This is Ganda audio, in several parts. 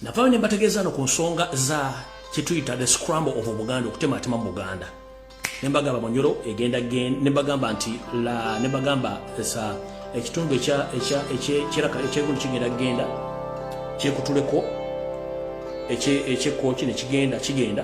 navayo ne mbategeeza no ku nsonga za kyetuyita the scramble of obuganda okutematema mu buganda nembagamba munyoro egenda nembagamba nti nembagamba sa ekitundu ekyegundu kigenda kugenda kyekutuleko ekyekoki nekigenda kigenda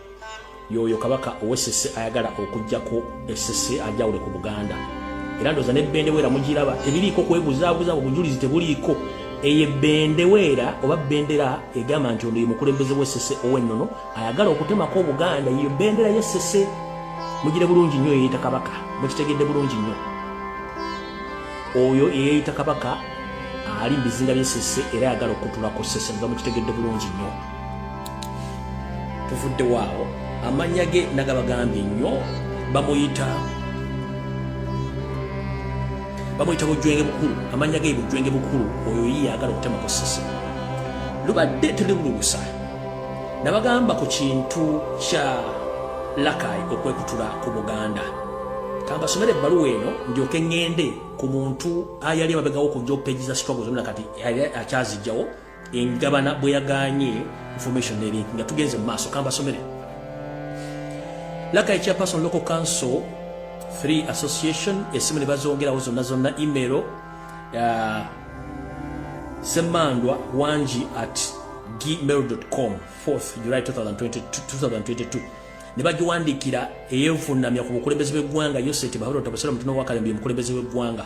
yoyo kabaka owesese ayagala okujjako esese ajawule ku buganda era ndoza ne bendeweera mugiraba tebiriiko kwebuzabuza obujulizi tebuliiko eye bendeweera oba bendera egamba nti ono ye mukulembeze wesese owennono ayagala okutemako obuganda eyo bendera yesese mugire bulungi nnyo eyeyita kabaka mukitegedde bulungi nnyo oyo eyeyita kabaka ali mubizinga byesese era ayagala okutulako sese nga mukitegedde bulungi nnyo tuvudde waawo amannya ge nagabagambye nnyo bamuyita bamuyita bujwenge bukulu amannya ge bujwenge bukulu oyo yiye agala okutemako sisi lubadde terirulubusa nabagamba ku kintu kya lakai okwekutula ku buganda kambasomere ebbaluwa eno ndyoke ŋŋende ku muntu ayali emabegawoko njo peji za struggle zonna kati akyazijjawo engabana bwe yaganye information neri nga tugenze mu maaso kambasomere laka ekya person local council 3 association esimu ne bazongerawo zonna zonna email uh, semandwa wangi at gmail.com 4th july 2022 ne bagiwandiikira eyevunnamya ku bukulembeze bw'eggwanga yoseti bahola otabasala mutuno wakalembi omukulembeze w'eggwanga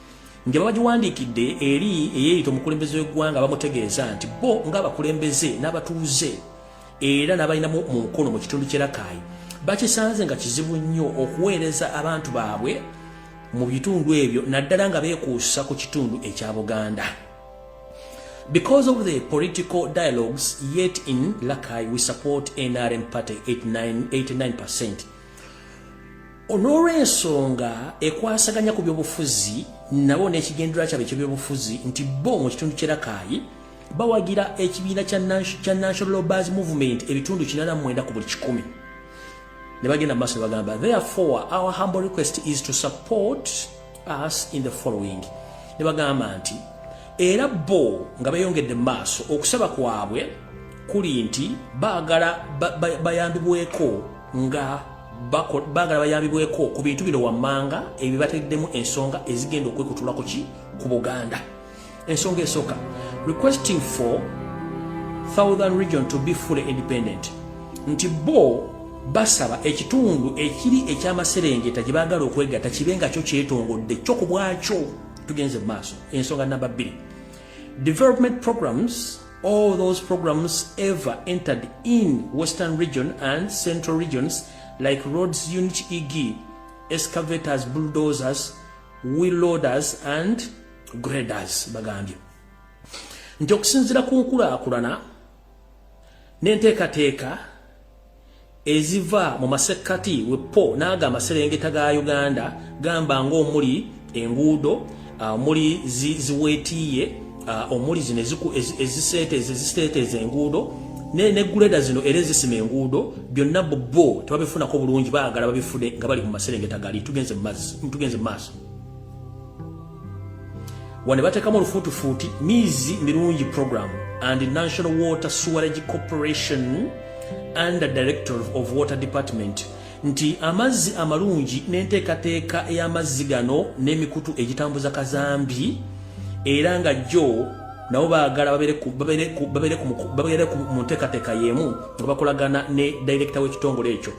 nja babagiwandiikidde eri eyeeyita omukulembeze w'eggwanga bamutegeeza nti bo ng'abakulembeze n'abatuuze era n'abalinamu mu nkono mu kitundu kye rakaayi bakisanze nga kizibu nnyo okuweereza abantu baabwe mu bitundu ebyo naddala nga beekuusa ku kitundu ekya buganda Because of the political dialogues yet in Lakai, we support NRM party 89%. 89%. olw'olwensonga ekwasaganya ku byobufuzi nabo n'ekigendera kyabwe ekyebyobufuzi nti bo mu kitundu kyerakaayi bawagira ekibiina kya national lobers movement ebitundu 89 ku buli kikumi ne bagenda mu maaso ne bagamba therefore our humble request is to support us in the following ne bagamba nti era bo nga beyongedde mu maaso okusaba kwabwe kuli nti baagala bayambibweko nga baagala bayambibweko ku bintu bino wammanga ebibateddemu ensonga ezigenda okwekutulako ki ku buganda ensonga esooka requesting for southern region to be fully independent nti bo basaba ekitundu ekiri ekyamaserengeta gye baagala okwegata kibe nga kyo kyetongodde kyo ku bwakyo tugenze mu maaso ensonga namba bbiri development programs all those programs ever entered in western region and central regions like roads unit eg excavators bulldozers wheel loaders and graders bagambye nti okusinzira ku nkulaakulana n'enteekateeka eziva mu masekkati wepo n'ago amaserengeta ga uganda gamba ng'omuli enguudo ah, omuli ziweetiiye ah, omuli zino eziseeteeza eziseeteeza enguudo negguleda zino era ezisima enguudo byonna bbo tebabifunako bulungi baagala babifune nga bali mu maserengeta gali tugenze mu maaso wano batekamu olufuutufuuti miizi mirungi program and national water sewerage corporation under director of water department nti amazzi amalungi n'enteekateeka ey'amazzi gano n'emikutu egitambuza kazambi era nga jjo nabo baagala babeere mu nteekateeka y'emu nga bakolagana ne director w'ekitongole ekyo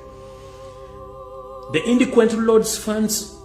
the indequent lords funds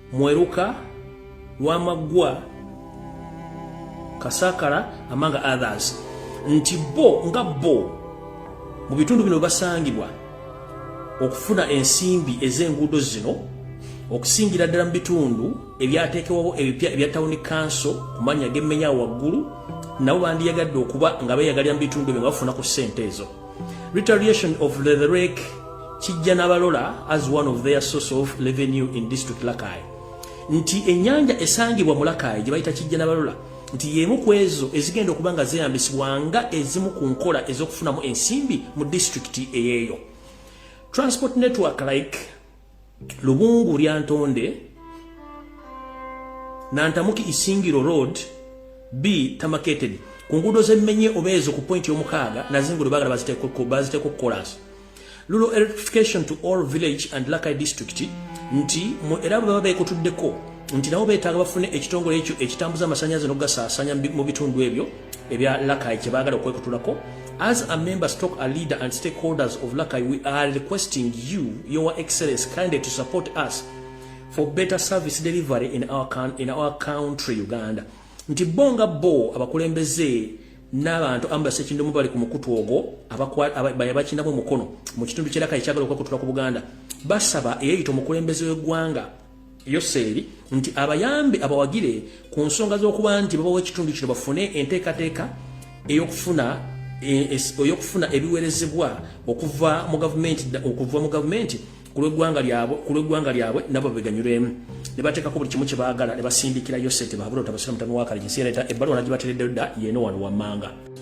Mweruka, Lwamaggwa, Kasakala among others nti bo nga bo mu bitundu bino basangibwa okufuna ensimbi ez'enguudo zino okusingira ddala mu bitundu ebyateekebwawo ebipya ebya tawuni kanso ku mannya g'emmenya waggulu nabo bandiyagadde okuba nga beeyagalira mu bitundu ebyo nga bafuna ku ssente ezo Retaliation of Leatherake kijja nabalola as one of their source of revenue in district Lakai nti enyanja esangibwa mu Lakai gye bayita kijja nabalola nti yemu ku ezo ezigenda okuba nga zeeyambisibwa nga ezimu ku nkola ez'okufunamu ensimbi mu disitulikiti eyeeyo transport network like lubungu lyantonde nantamuki isingiro road b tamaketedi ku nguudo z'emmenye oba ezo ku pointi y'omukaaga nazo enguudo baagala baziteeko kolas lulo electrification to all village and lakai district nti era bwe baba beekutuddeko nti nabo beetaaga bafune ekitongole ekyo ekitambuza amasannyalaze n'okugasaasanya mu bitundu ebyo ebya lakai kyebagala okwekutulako as a member stock a leader and stakeholders of lakai we are requesting you your excellence kindly to support us for better service delivery in our, in our country uganda nti bo nga bo abakulembeze n'abantu ambulance ekindomu bali ku mukutu ogwo abakinamu omukono mu kitundu kyeraka ekyagala okwekutula ku buganda basaba eyeyita omukulembeze w'eggwanga yoseeri nti abayambe abawagire ku nsonga z'okuba nti babawa ekitundu kino bafune enteekateeka ey'okufuna e, ey'okufuna ebiweerezebwa okuva mu gavumenti okuva mu gavumenti ku lw'eggwanga lyabwe ku lw'eggwanga lyabwe nabo beganyulemu ne bateekako buli kimu kye baagala ne basindikira yosete baabula otabasira mutami wa kaligi siyaleeta ebbaluwa nagibateredde dda yeeno wano wammanga